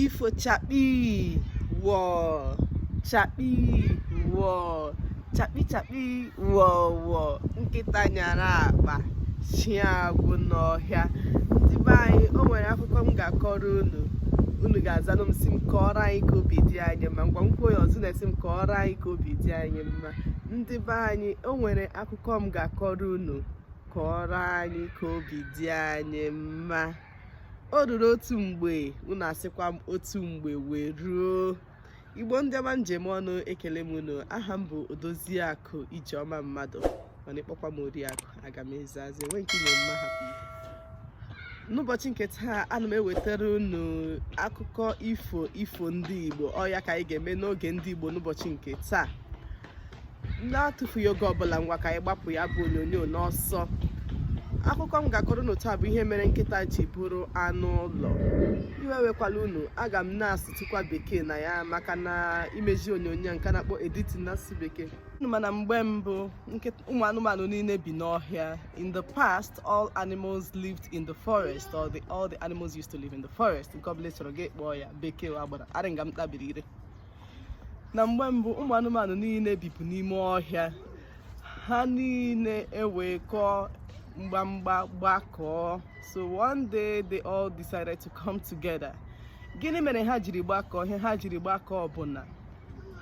ifo chakpi wọ chakpi wọ chakpi chakpi wọ wọ nkịta nyara akpa nsị agwụ n'ọhịa ndị be anyị o nwere akụkọ m ga-akọrọ unu unu ga-azanụ m sị m kọọrọ anyị ka obi dị anyị mma ngwa m kwuo ya ọzọ unu asị m kọọrọ anyị ka obi dị anyị mma ndị be anyị o nwere akụkọ m ga-akọrọ unu kọọrọ anyị ka obi dị anyị mma o ruru otu mgbe unu asịkwa m otu mgbe wee ruo igbo ndị ọma m ji eme ọnụ ekele m unu aha m bụ odoziakụ ijeọma mmadụ mana ị kpọkwa m oriakụ aga m azazi enwe nke inye mma ha n'ụbọchị nke taa ana m ewetara unu akụkọ ifo ifo ndị igbo ọ ya ka anyị ga-eme n'oge ndị igbo n'ụbọchị nke taa na-atụfughị oge ọbụla ngwa ka anyị gbapụ ya bụ onyonyo n'ọsọ akụkọ m ga-akọrọ unu taa bụ ihe mere nkịta ji bụrụ anụ ụlọ iwe wekwala unu aga m na-asụtụkwa bekee na ya maka na imezi onyonyo nke a na-akpọ editing n'asụsụ bekee mana mgbe mbụ ụmụ anụmanụ niile bi n'ọhịa in the past all animals lived in the forest or the, all the animals used to live in the forest nke ọbụla ị chọrọ gị kpọọ ya bekee agbara arịnga m tabiri ire na mgbe mbụ ụmụ anụmanụ niile bibu n'ime ọhịa ha niile ewee kọọ mgbamgba gbakọọ so one day they all decided to come together gịnị mere ha jiri gbakọọ ihe ha jiri gbakọọ bụ na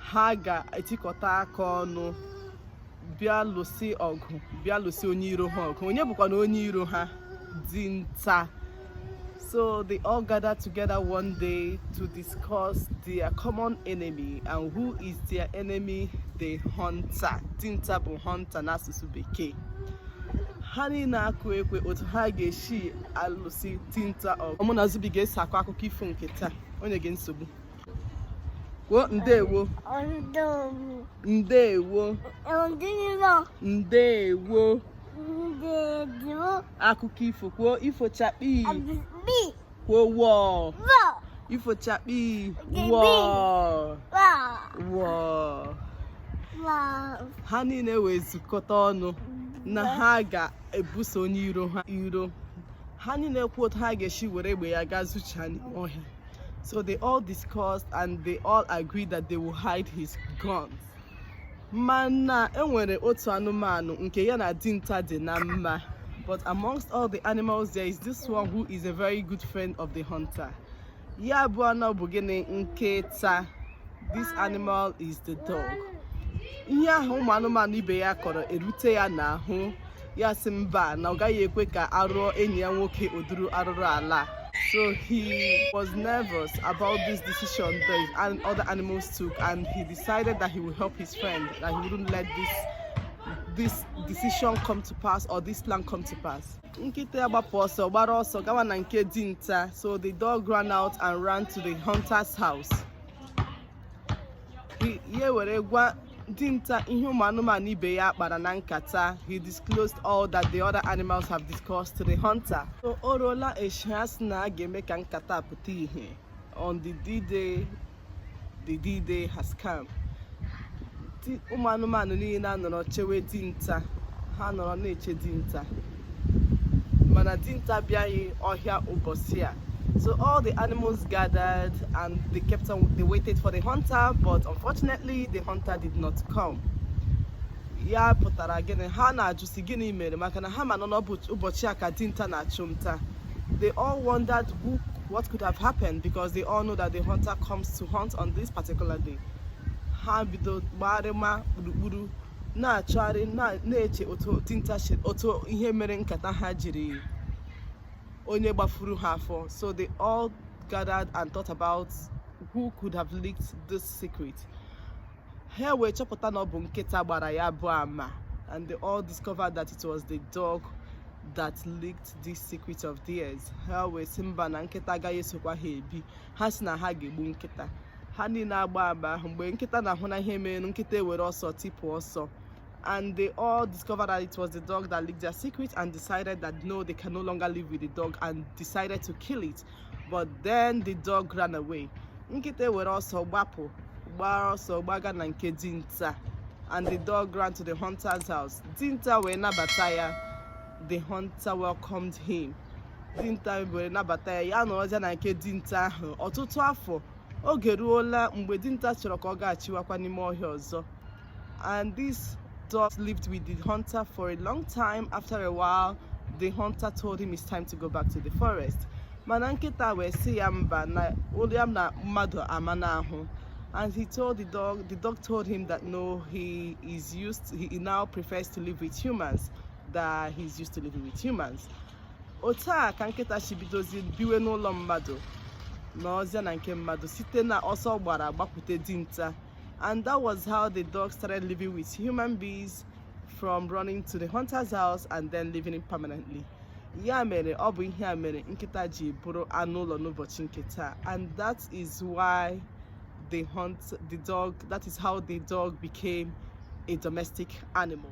ha ga-etikọta aka ọnụ bịa lụsị ọgụ bịa lụsị onye iro ha ọgụ onye bụkwanụ onye iro ha dinta So they all gathered together one day to discuss their common enemy and who is their enemy the hunter dinta bụ hunter n'asụsụ bekee ha niile akụ ekwe otu ha ga-esi alụsi dinta ọgụ ọ mụ na Zubi ga-eso akọ akụkọ ifo nke taa o nweghị nsogbu kwuo ndewo ndewo ndewo akụkọ ifo kwuo ifo chakpi kwuo wọọ ifo chakpi wọọ wọọ ha niile wee zukọta ọnụ na ha ga-ebuso onye iro ha iro ha niile kwuo otu ha ga-esi were egbe ya gaa zochaa n'ọhịa So they all discussed and they all agreed that they will hide his guns. Mana enwere otu anụmanụ nke ya na dinta dị na mma. But amongst all the animals there is this one who is a very good friend of the hunter. Ya bụ anụ bụ gịnị nkịta. This animal is the dog. Ihe ahụ ụmụ anụmanụ ibe ya kọrọ erute ya n'ahụ. ya sị mba na ọ gaghị ekwe ka a rụọ enyi ya nwoke ụdịrị arụrụ ala so he was nervous about this decision the other animals took and he decided that he would help his friend that he wouldn't let this this decision come to pass or this plan come to pass nkịta ya gbapụ ọsọ gbara ọsọ gawa na nke dinta so the dog ran out and ran to the hunter's house ya were gwa dinta ihe ụmụ anụmanụ ibe ya kpara na nkata he disclosed all that the other animals have discussed to the hunter so o ruola echi ha sị na a ga-eme ka nkata pụta ihe on the d-day the d-day has come ụmụ anụmanụ niile anọrọ chewe dinta ha nọrọ na-eche dinta mana dinta abịaghị ọhịa ụbọchị a so all the animals gathered and they kept on they waited for the hunter but unfortunately the hunter did not come ya pụtara gịnị ha na-ajụ sị gịnị mere maka na ha ma na ọ n'ụbọchị a ka dinta na-achụ nta they all wondered who what could have happened because they all know that the hunter comes to hunt on this particular day. Ha bido gbarịma gburugburu na-achọgharị na-eche otu dinta otu ihe mere nkata ha jiri onye gbafuru ha afọ so they all gathered and thought about who could have leaked this secret ha wee chọpụta na ọ bụ nkịta gbara ya bụ ama and they all discovered that it was the dog that leaked this secret of theirs ha wee sị mba na nkịta agaghị esokwa ha ebi ha sị na ha ga-egbu nkịta ha niile agbaa agba ahụ mgbe nkịta na-ahụ na ihe mere nkịta ewere ọsọ tipụ ọsọ and they all discovered that it was the dog that leaked their secret and decided that no, they can no longer live with the dog and decided to kill it. But then the dog ran away. Nkịta were ọsọ gbapụ, gbara ọsọ gbaga na nke dinta and the dog ran to the hunter's house. Dinta wee nabata ya. the hunter welcomed him dinta were nabata ya ya nọrọzịa na nke dinta ahụ ọtụtụ afọ oge ruola mgbe dinta chọrọ ka ọ gachiwakwa n'ime ọhịa ọzọ and this dog lived with the hunter for a long time after a while the hunter told him it's time to go back to the forest mana nkịta wee sị ya mba na ụlọ ya na mmadụ amana ahụ and he told the dog the dog told him that no he is used he now prefers to live with humans that he's used to living with humans otu a ka nkịta si bidozi biwe n'ụlọ mmadụ nọzịa na nke mmadụ site na ọsọ ọ gbara gbakwute dinta and that was how the dog started living with human beings from running to the hunter's house and then living in permanently ya mere ọ bụ ihe a mere nkịta ji bụrụ anụ ụlọ n'ụbọchị nke taa and that is why the hunt the dog that is how the dog became a domestic animal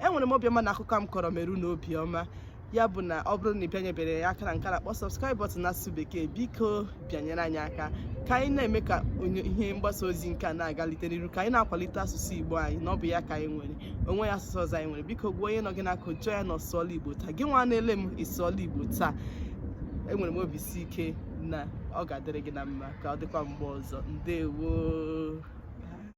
enwere m obiọma na akụkọ m kọrọ mere unu obiọma ya bụ na ọ bụrụ na ị bịanyebere anyị aka na nke a na-akpọ subscribe button n'asụsụ bekee biko bịanyere anyị aka ka anyị na-eme ka ihe mgbasa ozi nke a na-agalite n'iru ka anyị na-akwalite asụsụ igbo anyị na ọ bụ ya ka anyị nwere o nweghị asụsụ ọzọ anyị nwere biko gwa onye nọ gị n'aka jụọ ya na ọ sụọla igbo taa gị nwa na-ele m ị sụọla igbo taa enwere m obi si ike na ọ ga-adịrị gị na mma ka ọ dịkwa mgbe ọzọ ndewo